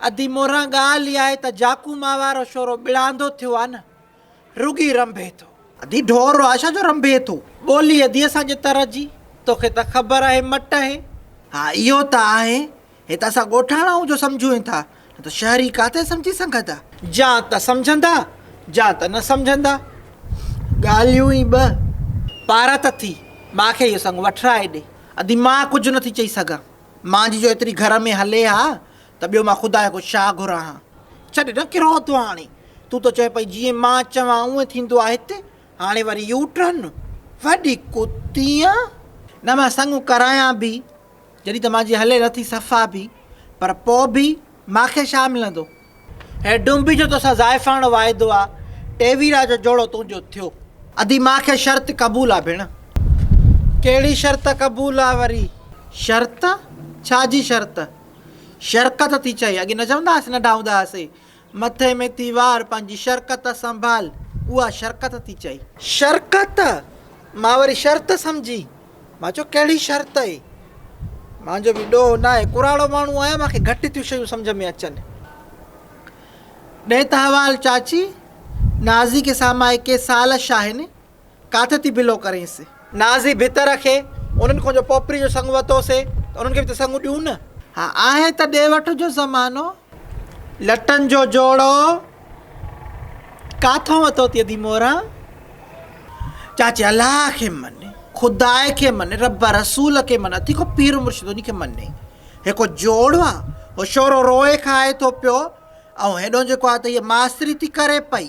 ادي موران ڳالهه اها آهي ته جاکو ماء وارو شورو ٻڙاندو ٿيو آهي نه رڳي رنڀي ٿو. ادي ڍور رو آهي ڇا جو رنڀي ٿو. ٻولي ادي اسان جي تر جي توکي ته خبر آهي مٽ اهي. ها اهو ته آهي هي ته اسان ڳوٺاڻا آهون جو سمجهون ٿا نه ته شهري ڪاٿي سمجهي سگهندا. جا ته سمجهندا جا ته نه سمجهندا ڳالهيون ئي ٻه. پارت ٿي ماکي اهو سڱ وٺرائي ڏي. ادي مان ڪجهه نه ٿي چئي سگهان. مان جي جو ايتري گهر ۾ هلي ها ته ٻيو مان خدا کي ڪو ڇا گهران ها. ڇڏ نه ڪيرو اٿو هاڻي. تون ته چوين پئي جيئن مان چوان اونئن ٿيندو آ هت. هاڻي وري يو ٽرن. وڏي ڪتي آن. نه مان سڱ ڪرايان به جڏهن ته مان جي هلي نٿي صفا به پر پوء به مان کي ڇا ملندو. هي ڊومبي جو توسان زائفاڻو واعدو آ، ٽيويرا جو جوڙو تنهنجو ٿيو. ادي مان کي شرط قبول آ ڀيڻ. ڪهڙي شرط قبول آ وري؟ شرط؟ ڇا جي شرط؟ شرڪت ٿي چئي، اڳي نه چوندا هئاسين ننڍا هوندا هئاسين، مٿي ۾ ٿي وار، پنهنجي شرڪت سنڀال، اها شرڪت ٿي چئي. شرڪت؟ مان وري شرط سمجهي. مان چيو ڪهڙي شرط اي؟ مان جو به ڏوهه ناهي، ڪراڙو ماڻهو آهيان، مان کي گهٽ ٿيون شيون سمجهه ۾ اچن. ڏي ته حوال چاچي، نازي کي سامائي ڪي سال شاهين ڪاٿي ٿي بلو ڪرينس. نازي ڀت رکي، انهن کان جو پوپري جو سڱ وتوسي ته انهن کي به ته سڱ ڏيون نه. ها آهي ته ڏي وٺ جو زمانو. لٽن جو جوڙو ڪاٿو وتو تي ادي مورا چاچي الله کي مني خدا کي مني رب رسول کي مني اتي کو پير مرشد اني کي مني هيڪو جوڙ آ هو شورو روئي کائي ٿو پيو ۽ هيڏو جيڪو آ ته هي ماستري ٿي ڪري پئي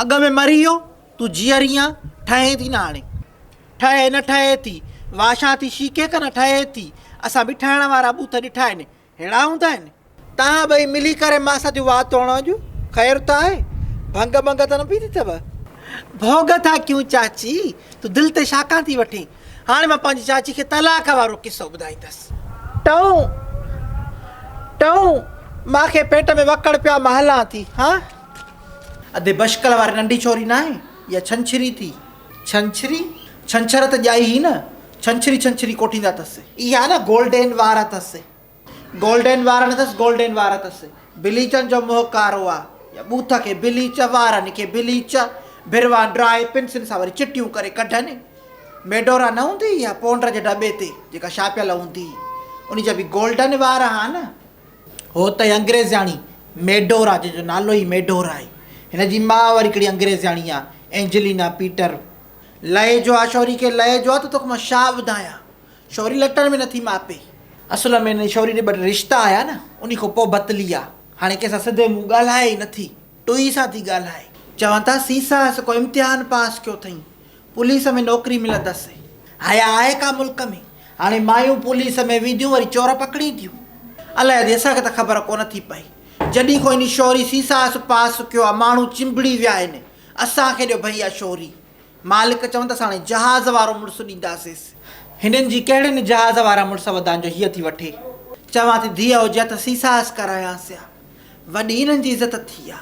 اڳ ۾ مري ويو، تون جيئري آن، ٺهين ٿي نه هاڻي. ٺهي نه ٺهي ٿي، واشان ٿي شيڪي ڪن ٺهي ٿي، اسان به ٺهڻ وارا ٻوٿ ڏٺا آهن، ههڙا هوندا آهن. توهان ٻئي ملي ڪري مان سان ٿيون وات توڻو اڄ، خير ته آهي، ڀنگ ڀنگ ته نه پيتي اٿئو؟ ڀوڳ ٿا ڪيون چاچي، تون دل تي شاڪان ٿي وٺين، هاڻي مان پنهنجي چاچي کي طلاق وارو قصو ٻڌائيندس. ٽئون ٽئون، مان کي پيٽ ۾ وڪڙ پيو آ، مان هلان ٿي، هان. ادي بشڪل واري ننڍي ڇوري ناهي اها ڇنڇري ٿي. ڇنڇري؟ ڇنڇر ته ڄائي هئي نه. ڇنڇري ڇنڇري ڪوٺيندا اٿس. اها نه گولڊين وار اٿس. گولڊين وار نه اٿس گولڊين وار اٿس. بليچن جو منهن ڪارو آ. يا ٻوٿ کي بليچ وارن کي بليچ. ڀروان ڊرائي پنسل سان وري چٽيون ڪري ڪڍن. ميڊورا نه هوندي اها پونڊر جي ڊٻي تي جيڪا ڇاپيل هوندي انهي جا به گولڊن وار ها نه. هو ته انگريزياڻي ميڊور آ جنهن جو نالو ئي ميڊور آهي. هن جي ماء وري ڪهڙي انگريزياڻي آ، اينجلينا پيٽر. لئي جو آ شوري کي لئي جو آ ته توکي مان شا ٻڌايان. شوري لٽن ۾ نٿي ماپي. اصل ۾ هن شوري ڏي ٻه ٽي رشتا آيا نه انهي کان پوء بتلي آ. هاڻي ڪنهن سان سڌي منهن ڳالهائي ئي نٿي. ٽوئي سان ٿي ڳالهائي. چون ٿا سيسا هس ڪو امتحان پاس ڪيو ٿئين پوليس ۾ نوڪري ملندس. حيا آهي ڪا ملڪ ۾ هاڻي مايون پوليس ۾ وينديون وري چور پڪڙين ٿيون. الاهي ادي اسان کي ته خبر ڪونه ٿي پئي جڏهين کون اني شوري سيسا هس پاس ڪيو آ ماڻهو چنبڙي ويا آهن اسان کي ڏيو ڀئيا شوري مالڪ چون ته ساڻي جهاز وارو مڙس ڏينداسينس. هنن جي ڪهڙين جهاز وارا مڙس ودان جو هيء ٿي وٺي. چوان ٿي ڌيء هجي ها ته سيساهس ڪرايانس ها. وڏي انهن جي عزت ٿي ها.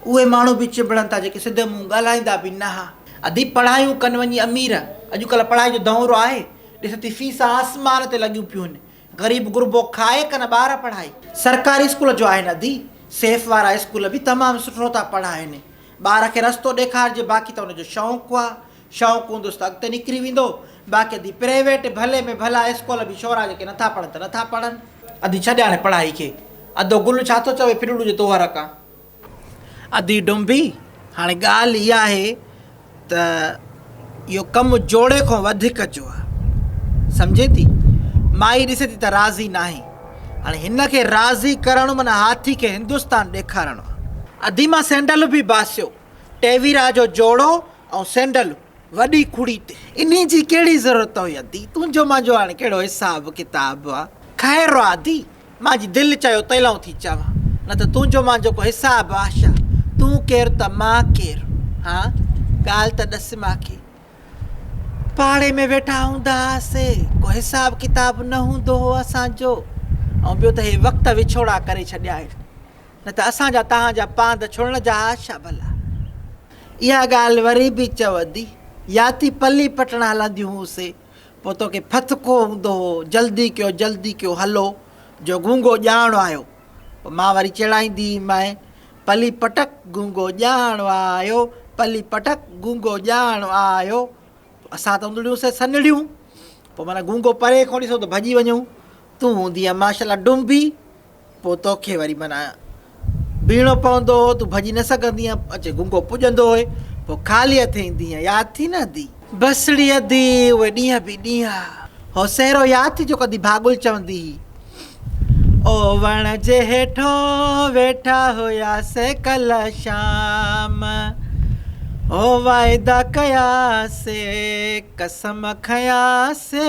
اهي ماڻهو به چنبڙن ٿا جيڪي سڌي منهن ڳالهائيندا به نه ها. ادي پڙهايون ڪن وڃي امير. اڄڪلهه پڙهائي جو دؤرو آهي. ڏس ٿي فيسون آسمان تي لڳيون پيون هن. غريب غربو کائي ڪن ٻار پڙهائي. سرڪاري اسڪول جو آهن ادي. سيف وارا اسڪول به تمام سٺو ٿا پڙهائين. ٻار کي رستو ڏيکارجي باقي ته ان جو شوق آ. شوق هوندس ته اڳتي نڪري ويندو. باقي ادي پرائيويٽ ڀلي ۾ ڀلا اسڪول به ڇورا جيڪي نٿا پڙهن ته نٿا پڙهن. ادي ڇڏ هاڻي پڙهائي کي. ادو گل ڇا ٿو چوي ڦرڙو جو تون هرکان ادي ڊونڀي، هاڻي ڳالهه اها آهي ته اهو ڪم جوڙي کان وڌيڪ جو آهي. سمجهين ٿي؟ مائي ڏسي ٿي ته راضي ناهي. هاڻي هن کي راضي ڪرڻ معنيٰ هاٿي کي هندستان ڏيکارڻو آهي. ادي مان سينڊل به باسيو. ٽيويرا جو جوڙو ۽ سينڊل وڏي کڙي تي. انهي جي ڪهڙي ضرورت هئي ادي؟ تنهنجو منهنجو هاڻي ڪهڙو حساب ڪتاب آهي. خير آ ادي، مانجي دل چيو تيلئون ٿي چوان، نه ته تنهنجو مانجو ڪو حساب آ ڇا؟ تون ڪير ته مان ڪير؟ هان، ڳالهه ته ڏس ماکي. پاڙي ۾ ويٺا هوندا هئاسي، ڪو حساب ڪتاب نه هوندو هو اسان جو. ۽ ٻيو ته هي وقت وڇوڙا ڪري ڇڏيا آهن، نه ته اسان جا توهان جا پاند ڇڙڻ جا ها ڇا ڀلا؟ اها ڳالهه وري به چوندي، يا ٿي پلي پٽڻ هلنديون هونسين. پوء توکي پھت ڪو ھوندو ھو، جلدي ڪيو جلدي ڪيو ھلو جو گونگو ڄاڻ آيو. پوء مان وري چيڙائيندي مئين، پلي پٽڪ گونگو ڄاڻ آيو، پلي پٽڪ گونگو ڄاڻ آيو. پوء اسان ته ھوندڙيون سين سنھڙيون، پوء معنيٰ گونگو پري کان ڏسون ته ڀڄي وڃون. تون ھوندينء ماشاء الله ڊنبي. پوء توکي وري معنيٰ بيهڻو پوندو هو، تون ڀڄي نه سگهندي هئين، اچي گونگو پڄندو هئين، پوء خالي هٿين ايندي هئين، ياد اٿئي نه ادي؟ بسڙي ادي، اهي ڏينهن به ڏينهن هو سهرو ياد اٿئي جو ڪڌي ڀاڳل چوندي هئي، او وڻ جي هيٺو ويٺا هياسي ڪلهه شام، او واعدا ڪياسي قسم کنياسي،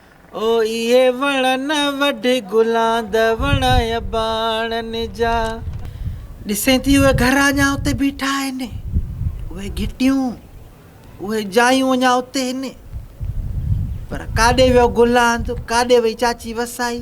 او اهي وڻ نه وڍ گلان ده وڻ اباڻن جا. ڏسين ٿي اهي گهر اڃا اتي بيٺا آهن، اهي گهٽيون، اهي جايون اڃا اتي هن. پر ڪاڏي ويو گلاند، ڪاڏي وئي چاچي وسائي.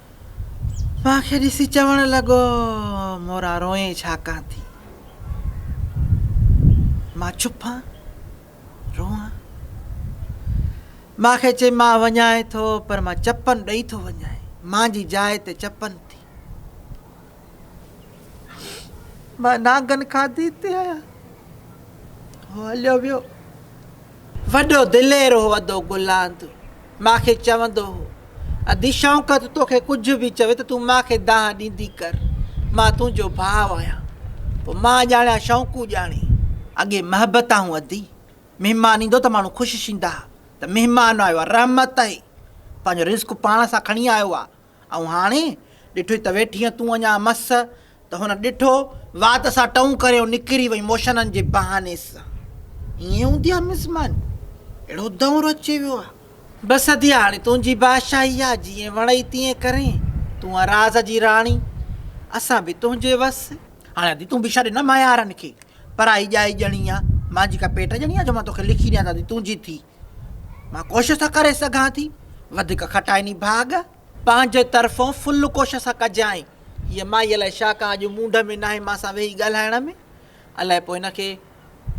مان کي ڏسي چوڻ لڳو، مورا روئين ڇا ڪان ٿي؟ مان ڇپان، روئان؟ مان کي چي مان وڃائين ٿو پر مان چپن ڏئي ٿو وڃائين، مان جي جاء تي چپن ٿي. مان نانگن کاڌي تي آيان. هو هليو ويو. وڏو دلير هو ادو گلاند. مان کي چوندو هو، ادي شوڪت توکي ڪجهه به چوي ته تون مان کي دانهن ڏيندي ڪر، مان تنهنجو ڀاء آهيان. پوء مان ڄاڻيان شوڪو ڄاڻي. اڳي محبت آهون ادي. مهمان ايندو ته ماڻهو خوش شيندا ها ته مهمان آيو آهي، رحمت آهي، پنهنجو رزق پاڻ سان کڻي آيو آهي، ائون هاڻي ڏٺوئي ته ويٺينء تون اڃا مس؟ ته هن ڏٺو، وات سان ٽئون ڪريو نڪري وئي موشنن جي بهاني سان. ائين هوندي آ مس ماني؟ اهڙو دؤر اچي ويو آ. بس ادي هاڻي تنهنجي بادشاهي آ، جيئن وڻئي تيئن ڪرين، تون آ راز جي راڻي، اسان به تنهنجي وس. هاڻي ادي تون به ڇڏ نه ميارن کي، پرائي ڄائي ڄڻي آ، مانجي ڪا پيٽ ڄڻي آ جو مان توکي لکي ڏيان ته ادي تنهنجي ٿي. مان ڪوشش ته ڪري سگهان ٿي، وڌيڪ کٽائي ني ڀاڳ. پنهنجي طرفون فل ڪوشش ٿا ڪجانء. هيء مائي الائي ڇا ڪا اڄ موڊ ۾ ناهي مان سان ويهي ڳالهائڻ ۾. الائي پوء هن کي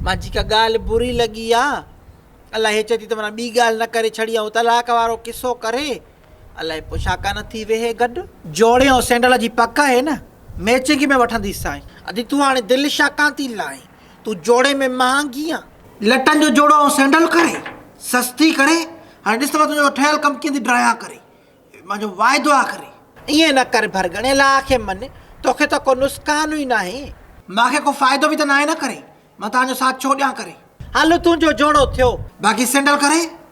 مان جي ڪا ڳالهه بري لڳي آ. الائي هيء چئي ٿي ته منا ٻي ڳالهه نه ڪري ڇڏيائون طلاق وارو قصو ڪري. الائي پوء ڇا ڪا نه ٿي ويهي گڏ. جوڙي ۽ سينڊل جي پڪ آهي نه، ميچنگ ۾ وٺنديسانء. ادي تون هاڻي دل ڇا ڪا ٿي لائين. تون جوڙي ۾ مهانگي آن. لٽن جو جوڙو آئون سينڊل ڪري سستي ڪري هاڻي ڏس ته مان تنهنجو ٺهيل ڪم ڪيئن ٿي ڊرايان ڪري مانجو واعدو آ ڪري. ائين نه ڪر ڀرڳڻي لا کي من توکي ته ڪو نسڪان ئي ناهي. مانکي ڪو فائدو به ته ناهي نه ڪري مان تانجو ساٿ ڇو ڏيان ڪري. هل تون جو جوڙو ٿيو. باقي سينڊل ڪري